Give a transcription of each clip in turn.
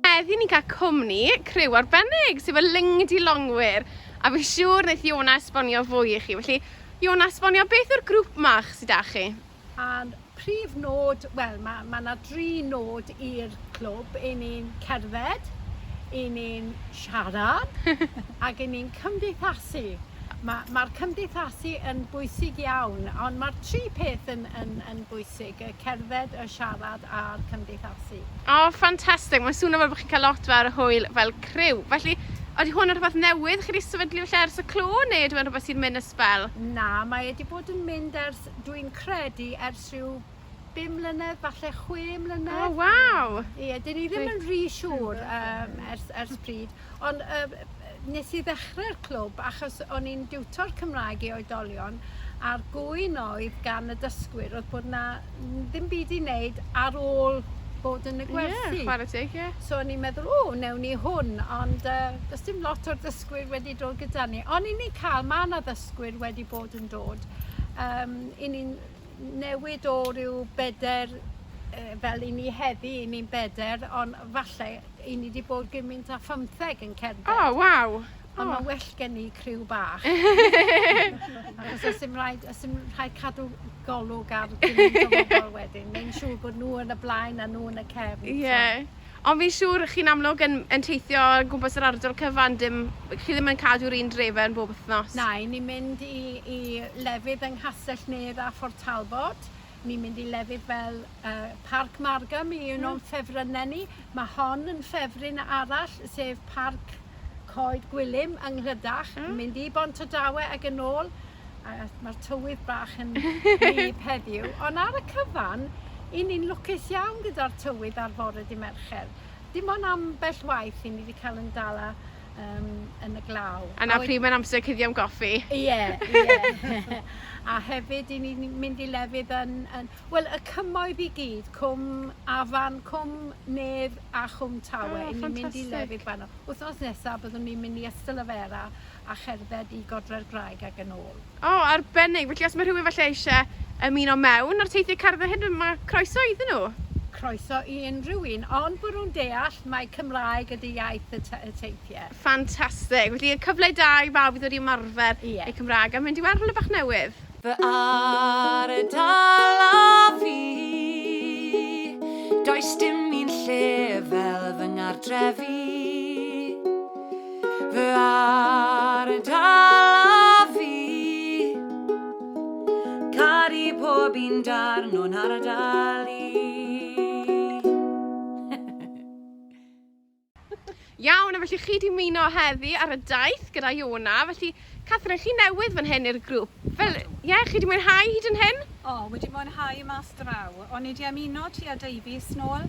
Heddi ni'n cael cwmni criw arbennig, sef y Lingdy Longwyr, a fi'n siŵr wneith Iona esbonio fwy i chi. Felly, Iona, esbonio beth yw'r grŵp 'ma sy 'da chi? A'r prif nod, wel, ma' ma' 'na dri nod i'r clwb, 'yn ni'n cerdded, 'yn ni'n siarad ac 'yn ni'n cymdeithasu. Ma' ma'r cymdeithasu yn bwysig iawn, ond ma'r tri peth yn yn yn bwysig, y cerdded, y siarad a'r cymdeithasu. O, ffantastig! Mae'n swnio fel bod chi'n cael lot fawr o hwyl fel criw. Felly, ydy hwn yn rhywbeth newydd chi wedi sefydlu felly ers y clo, neu ydy hwn rhywbeth sy'n mynd y sbel? Na, mae wedi bod yn mynd ers, dwi'n credu, ers rhyw bum mlynedd, falle chwe mlynedd. O, waw! Ie, dyn ni ddim yn rhy siŵr um, ers, ers pryd. Ond yy nes i ddechre'r clwb achos o'n i'n diwtor Cymraeg i oedolion a'r gŵyn oedd gan y dysgwyr oedd bod 'na ddim byd i wneud ar ôl bod yn y gwersi. Ie, chwarae teg, ie. So o'n i'n meddwl, o, newn ni hwn, ond uh, does dim lot o'r dysgwyr wedi dod gyda ni. Ond i ni cael, mae yna ddysgwyr wedi bod yn dod. Um, I ni'n newid o ryw beder fel i ni heddi, i ni'n beder, ond falle I ni wedi bod gymaint â phymtheg yn cerdded. O, oh, waw! Ond mae'n well gen i criw bach. Achos os dim rhaid, os dim rhaid cadw golwg ar gymaint o bobl wedyn, neu'n siŵr bod nhw yn y blaen a nhw yn y cefn. Ie. Yeah. Ond fi'n siŵr chi'n amlwg yn, yn teithio gwmpas yr ardal cyfan, dim, chi ddim yn cadw'r un drefau yn bob wythnos. Na, ni'n mynd i, i lefydd yng Nghastell Nedd a Fort Talbot, Ni'n mynd i lefydd fel uh, Parc Margam i un mm. o'n ffefrynnau ni. Mae hon yn ffefryn arall, sef Parc Coed Gwilym yng Nghlydach. Mm. Mynd i Bont y Dawe ac yn ôl. Mae'r tywydd bach yn rhyb heddiw. Ond ar y cyfan, i ni'n lwcus iawn gyda'r tywydd ar fore di Mercher. Dim ond am bell waith i ni wedi cael yn dala um, yn y glaw. A na pryd mae'n amser cuddio am goffi. Ie, yeah, ie. Yeah. a hefyd, i ni mynd i lefydd yn... yn Wel, y cymoedd i gyd, cwm afan, cwm nedd a chwm tawe. Oh, I ni'n mynd i lefydd fanno. Wythnos nesaf, byddwn ni'n mynd i Ystalyfera a cherdded i Godre'r Graig ac yn ôl. O, arbennig! Felly os mae rhywun falle eisiau ymuno mewn â'r teithiau cerdded hyn, mae croeso iddyn nhw? Croeso i unrhyw un, ond bod nhw'n deall mai Cymraeg ydy iaith y teithiau. Ffantastig! Felly y cyfle da i bawb i ddod i ymarfer eu Cymraeg a mynd i weld rhywle bach newydd. Fy ardal a fi, does dim un lle fel fy ngartref i. fy ardal a fi Caru pob un darn o'n ardal i Iawn, a felly chi di muno heddi ar y daith gyda Iona, felly Catherine, chi newydd fan hyn i'r grŵp. Fel, ie, yeah, chi di mwynhau hyd yn hyn? O, oh, wedi mwynhau mas draw. O'n i di ymuno ti a Davies nôl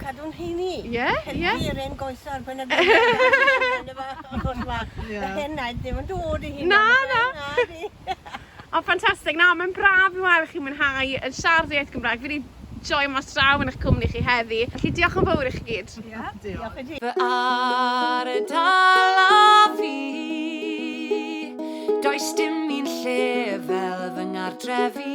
Cadw'n heini. Ie, ie. Helpu yr 'en goesar pan ag Yr hen naid ddim yn dod i hyn. Na, na. O, ffantastig. Na, mae'n braf i weld chi'n mwynhau yn siarad iaith Gymraeg. Fi wedi joio mas draw yn eich cwmni chi heddi. Felly, diolch yn fawr i chi gyd. Ia, diolch i ti. Fy ardal a fi Does dim un lle fel fy ngartref i